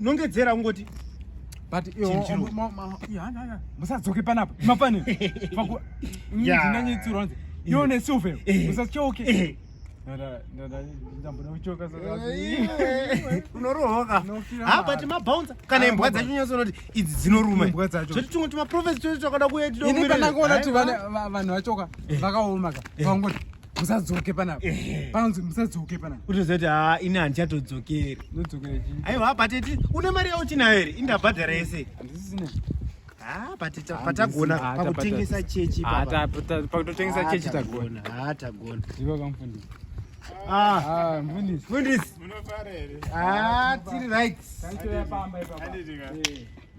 nongedzera ungoti but musadzoke panapa mafani ndinanyitsirwa nzi iwo nesilver musatyauke unorohoka ha but mabounce kana imbwa dzacho nyatso unoti idzi dzinoruma zvoti tumwe tumaprofesi twese twakada kuya tidoini pandangoona kuti vanhu vachoka vakaoma ka vangoti musadzoke panapa panzi musadzoke panapa utozoti ha ini handichatodzokeri aiwa pateti une mari yauchinayo here indabhadhara yese patagona pakutengesa chechi pakutotengesa chechi tagona ha tagona ivo kamfundisi mfundisi mfundisi tiri right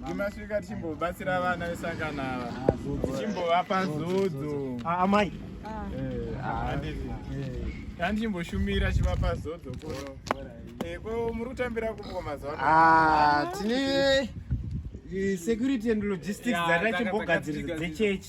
Timasvika tichimbobatsira vana vesangano ava tichimbovapa zodzo amai tandichimboshumira chivapa zodzo kuno ko muri kutambira kupo mazuva tine security and logistics dzatachimbogadziridza dzechechi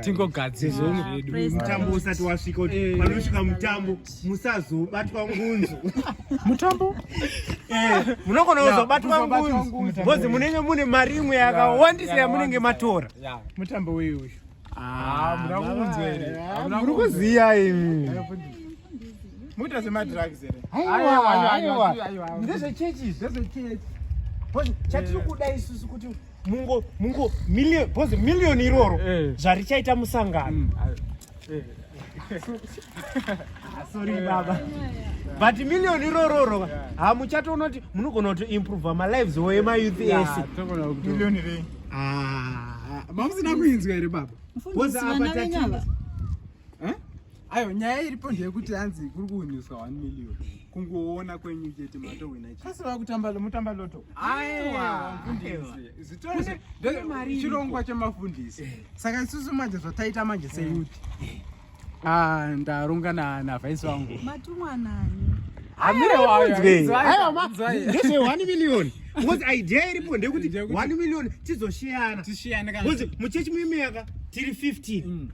tingogadzirwa zvedu mutambo usati wasvika kuti eh. panosvika mutambo musazobatwa ngunzo mutambo eh, munogona kuzobatwa ngunzo bcoz munenge mune mari imwe yakawandisa yamunenge matora mutambo wei uyu ah, muri kuziya imi muita semadrugs here ndezvechechi ndezvechechi chatiri kuda isusu kuti mungo mungo million bozi million iroro eh. zvarichaita musangano mm, eh. ah, sorry baba but million irororo hamuchatoona kuti munogona kuti improve malives oye mayouth ese ah. mamusina kuinzwa here baba Ayo nyaya iripo ndeyekuti hanzi kuri kuwiniswa 1 million. Kungoona kwenyu chete matowina chete. Asi vakutamba mutamba loto. Aiwa mfundisi. Zvitose mari chirongwa chemafundisi. Eh. Saka isusu manje zvataita manje seyuti. Eh. Eh. Ah ndaronga na na vice wangu. Matumwa nani? Amire wayo. Ayo madzai. Ndese 1 million. Ngozi idea iripo ndeyekuti 1 million tizoshiyana. Tishiyane kana. Ngozi muchechi muyimeka tiri 15.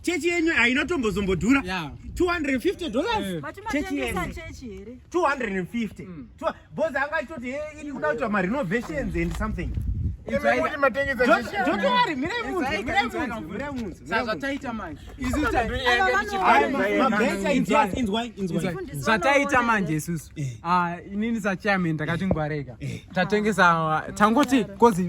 chechi yenyu haina tombozombodhura 250 dollars chechi yenyu 250 bozi anga achitoti iri kuda kuitwa marenovations and something zvataita manje isusu inini sachairman takati ngwarega tatengesa tangoti kozi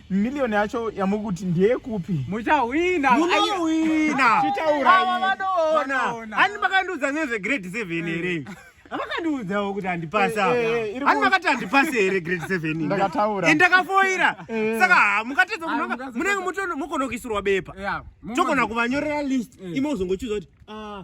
Million yacho yamuri kuti ndeyekupi? Muchahwina. Munohwina. Tichaura. Ava vanoona. Ani makandiudza nezve grade 7 here? Eh. Vakandiudzawo kuti handipasa. Ani eh, eh, makati handipasa here grade 7? Ndakataura. And ndakafoira. Saka mukatedza kunonga munenge mukonokisirwa bepa. Tokona kuvanyorera list. Imo uzongochiudza kuti ah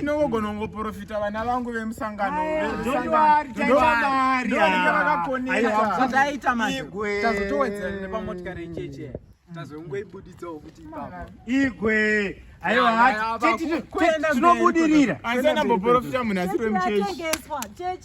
inongogona kungoprofita vana vangu vemusanganoaitamazotoedzerepamotikaricheche tazongoibuditsawo kuti igwe aiwa tinobudirira anzanamboprofita munhu asiri wemuchechi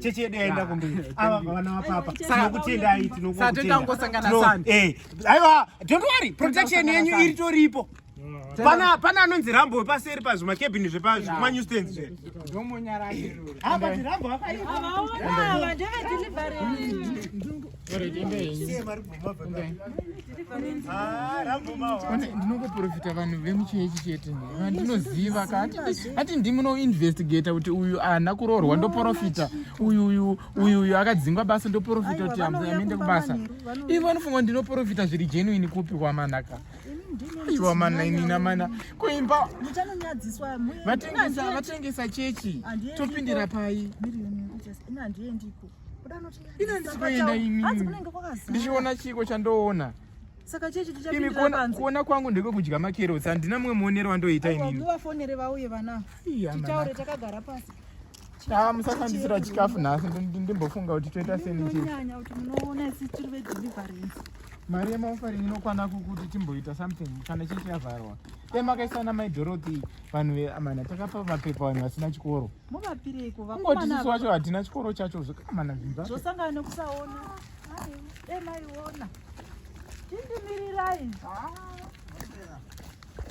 chechi yedu yaenda kumberi ava vana vapapa tinokutendai tinokutendai aiwa don't worry protection yenyu iri toripo pana pana anonzi rambo wepaseri pazvima cabin zvepazvima new stands zve ndomonyara apa rambo akaipa ndinokuprofita vanhu vemuchechi chete vandinoziva kaati ndimi unoinvestigata kuti uyu ahana kuroorwa ndoprofita uyu uyu uyu uyu akadzingwa basa ndoprofita kuti amende kubasa ivo vanofunga kuti ndinoprofita zviri genuini kupi kwamanaka iwa mana inina mana kuimba vatengesa chechi topindira pai handiendi ikoko ndichiona chiiko chandoona saka chechi tichapindira panze kuona kuona kwangu ndiko kudya makerotsi handina mumwe muonero wandoita inini vafonere vauye vana titaure takagara pasi Ah, musasandisira chikafu nhasi ndimbofunga kuti toita seninyanya kuti munoona isi tiri vedeliverance mari yemaofaring inokwana kukuti timboita something kana chii chiyavharwa emakaisana maidhorothi vanhu veamana takapa mapepa vanhu vasina chikoro Muvapireiko vakomana? Kungoti sisi wacho hatina chikoro chacho zvakamana zvimba. Zvosangana nekusaona. Hai, dai maiona. Tindimirirai. Ah.